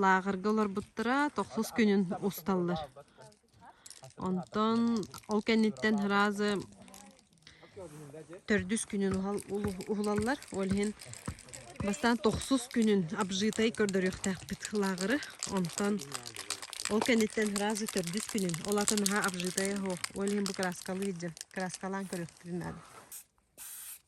Лааҕырга олорбуттара тохсус күнүн усталлар. Онтон ол кэнниттэн ыраазы төрдүс күнүн уһулаллар. Ол иһин бастаан тохсус күнүн обжитай көрдөрүөхтээхпит лааҕыры. Онтон ол кэнниттэн ыраазы төрдүс күнүн, ол атын наһаа обжитай оһо. Ол иһин бу краскалыы илдьэн краскалаан көрүөхпүтүн наада.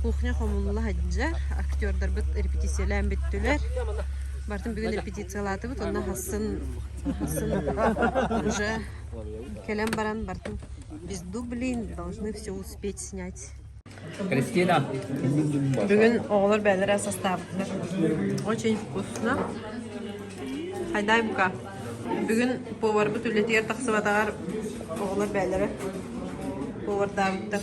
Кухня хомулла сылдьа, актердарбыт репетициялаан бүттүлэр. Бартын бүгүн репетициялаатыбыт, онно хасын хасын уже кэлэн баран бартын без дублин должны все успеть снять. Кристина. Бүгүн оҕолор бэйэлэрэ састаабыттар. Очень вкусно. Хайдай бука. Бүгүн поварбыт үлэтигэр тахсыбатаҕар оҕолор бэйэлэрэ повардаабыттар.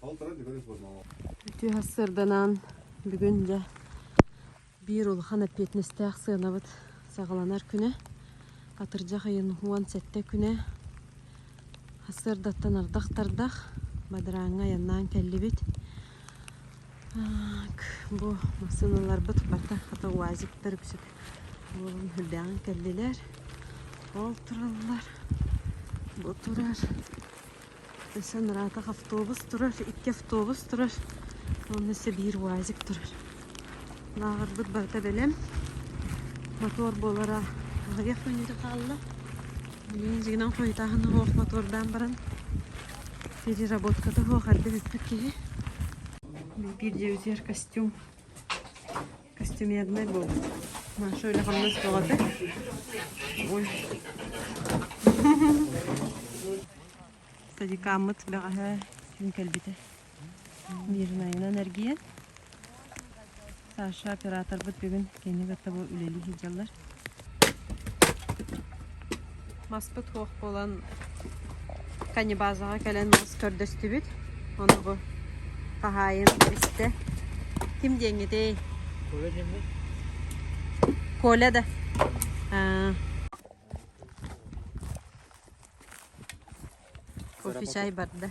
Үтүө сырданан бүгүн дьэ биир улахан эппиэтинэстээх сыанабыт саҕаланар күнэ. Атырдьах ыйын уон сэттэ күнэ. Сырдаттан ардах-тардах бадарааҥҥа айаннаан кэллибит. Бу массыыналарбыт бата хата УАЗиктар үксүк буолан үрдээҕин кэллилэр. Ол тураллар. Бу турар. Өссө ыраатах автобус турар, икки автобус турар уонна өссө биир УАЗик турар. Лааҕырбыт барыта бэлэм. Мотуор буолара аҕыйах мүнүүтэ хаалла. Билигин дьигинэн хойутааһын суох мотуордаан баран переработката суох эрдэ бүппүт киһи. Биир дьиэбитигэр костюм Костюмернай буолбут. Маша үлэ-хамнас бөҕөтө. Ой. Садикааммыт бэҕэһээ күн кэлбитэ. Мирнайынан эргийэн. Саша операторбут бүгүн кини кытта бу үлэлии сылдьаллар. Маспыт суох буолан каннибазаҕа кэлэн мас көрдөстүбүт. Ону бу хаһаайын истэ. Ким диэҥҥитий? Коля диэммит. Коля да? Аа. Кофе чай барда.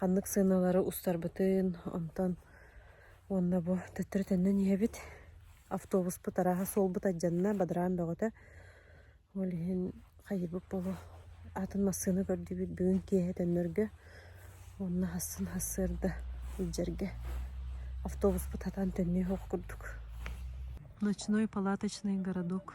ханнык сыаналары устарбытын, онтон уонна бу төттөрү төннөн иһэбит. Автобуспут арааһа суолбут алдьанна, бадыраан бөҕөтө. Ол иһин хайыыбыт буолуо, аатын массыына көрдүбүт бүгүн киэһэ төннөргө уонна хассын хассыарда илдьэргэ. Автобуспут хатан төннүөх курдук. Ночной палаточный городок.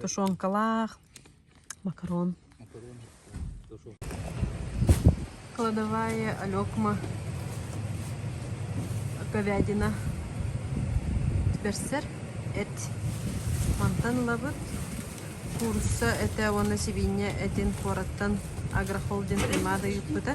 тушенкалаах макарон кладовая алекма говядина тибэрсэр эт мантан ылабыт курса этэ уонна сибиинньэ этин куораттан агрохолдинг римада ыыппыта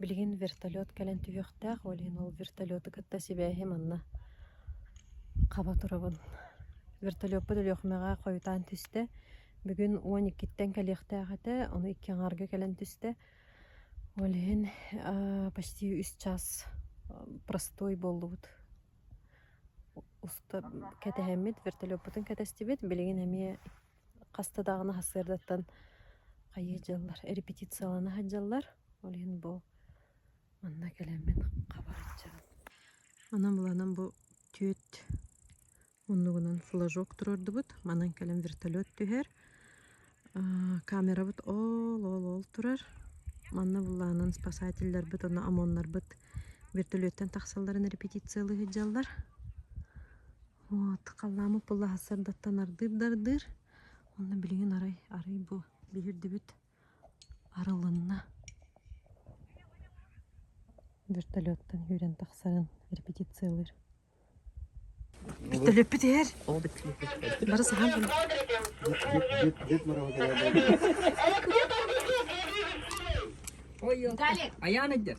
Билигин вертолет кэлэн түһүөхтээх буолуйун ол вертолеты кытта сибээһи манна хаба турабын. Вертолеппут Өлүөхүмэҕэ хойутаан түстэ. Бүгүн уон иккиттэн кэлиэхтээх этэ, ону икки аҥаарга кэлэн түстэ. Ол иһин почти үс чаас простой буоллубут. Уста кэтэһэммит, вертолеппутун кэтэстибит, билигин эмиэ хаста даҕаны сарсыардаттан хайыы дьаллар репетициялана сылдьаллар ол иһин бу манна кэлэммин хаба сылдьабын онон быланан бу түөрт муннугунан флажок туруордубут манан кэлэн вертолет түһэр камерабыт ол ол ол турар манна былаанын спасательларбыт уонна ОМОНнарбыт вертолеттан тахсалларын репетициялыы сылдьаллар Вот, халлаамы пыллаһа сырдаттан ардыыр-дардыыр. Онно билигин арай, арай бу биһирдибит арылынна. Вертолеттан күүрэн тахсарын репетициялыыр. Вертолетпит иһэр. Бары сахан бу. Ой, Аян эдер.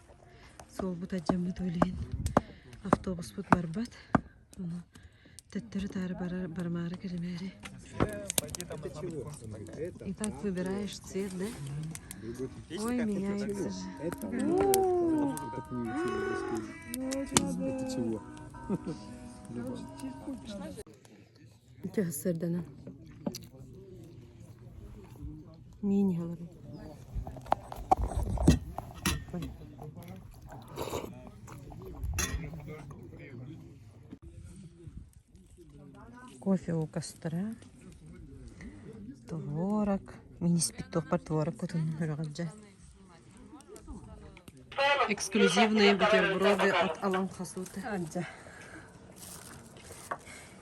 Суолбут алдьаммыт ол иһин автобуспут барбат. Ону төттөрү-таары барар барымаары кэлимээри. Итак, выбираешь цвет, да? Ой, меня Это чего? Ити сырданан миин иһэ олорон кофе укастара творог мин испит туохпар творог кутун көрөҕүт дьэ эксклюзивные бутерброды от аланхасута дьэ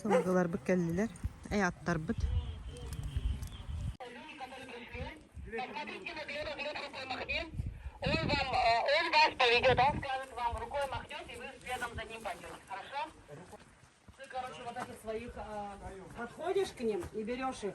Сылгыларбыт кэллилэр, ааттарбыт Подходишь к ним и берешь их.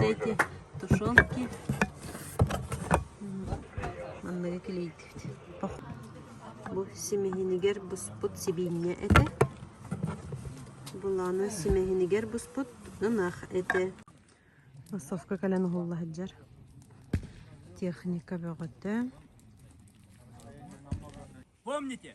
Эти, тушенки манныгы килийдибит. Бу симэһинигэр буспут сибиинньэ этэ. Булааны симэһинигэр буспут ынах этэ. Массовка кэлэн уһулла сылдьар. Техника бөҕөтө. Помните?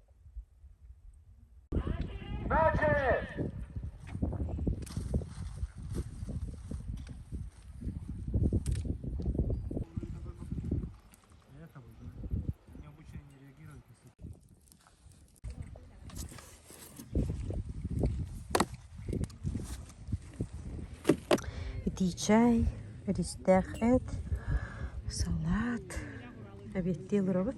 итии чай эристээх эт салат эбиэттии олоробут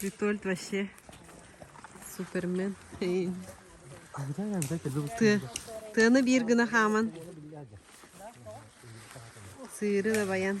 Витольд вообще супермен. Тыаны биир гына хааман. Сыыры да баян.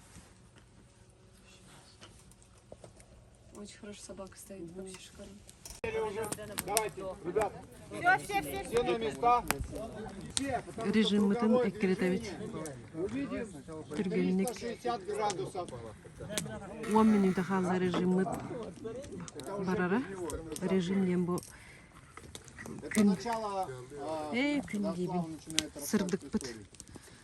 Очень хорошо собака стоит под шишками. Режим мы там эккретовить. Түргенник. Он минута хала режим мы барара. Режим дем бу күн. Эй, күн gibi. Сырдык пыт.